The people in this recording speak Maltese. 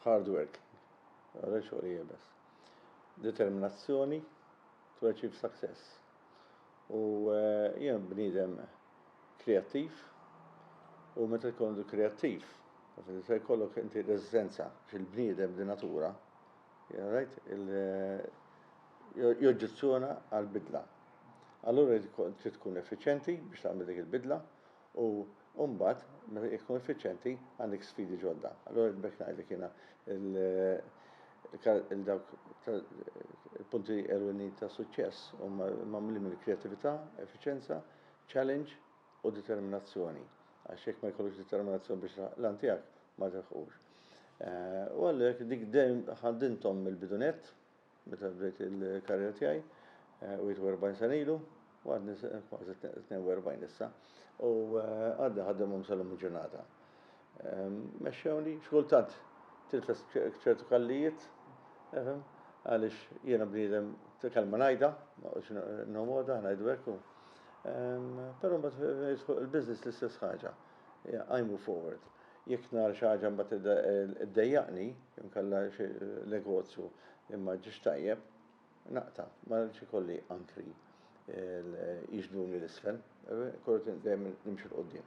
Hard work. Għara xogħol jebes. Determinazzjoni to achieve success. U eh, jien bnidem kreattiv u meta jkollu kreattiv, se jkollok inti resistenza fil-bniedem di natura, Rajt il joġġezzjona għall-bidla. Allura trid tkun effiċjenti biex tagħmel dik il-bidla u u mbagħad meta jekk tkun effiċjenti għandek sfidi ġodda. Allura b'hekk ngħidlek jiena il dawk il-punti ewlenin ta' suċċess huma magħmulin mill-kreattività, effiċjenza, challenge, u determinazzjoni, għax jekk ma jkollokx determinazzjoni biex tilħaq l-għan tiegħek, ma tilħqux. U għalhekk dik dejjem ħaddinthom mill-bidunett, meta bdejt il-karriera tiegħi, u 40 sena ilu, u għadni kważi 42 issa, u għadni ħaddimhom sal-lum il-ġurnata. Mexxewni, xi kultant tilfes ċertu kallijiet, efhem, għaliex jiena bniedem ta' kelma ngħidha, ma qgħodx nħomodha, ngħidu hekk u. Però mbagħad jidħol il-business l-istess ħaġa. I move forward. Jekk nara xi ħaġa mbagħad iddejjaqni, inkella xi negozju li ma ġiex tajjeb, naqta' ma rridx ikolli ankri jixduni l-isfel, kolli dejjem nimxi l-qudiem.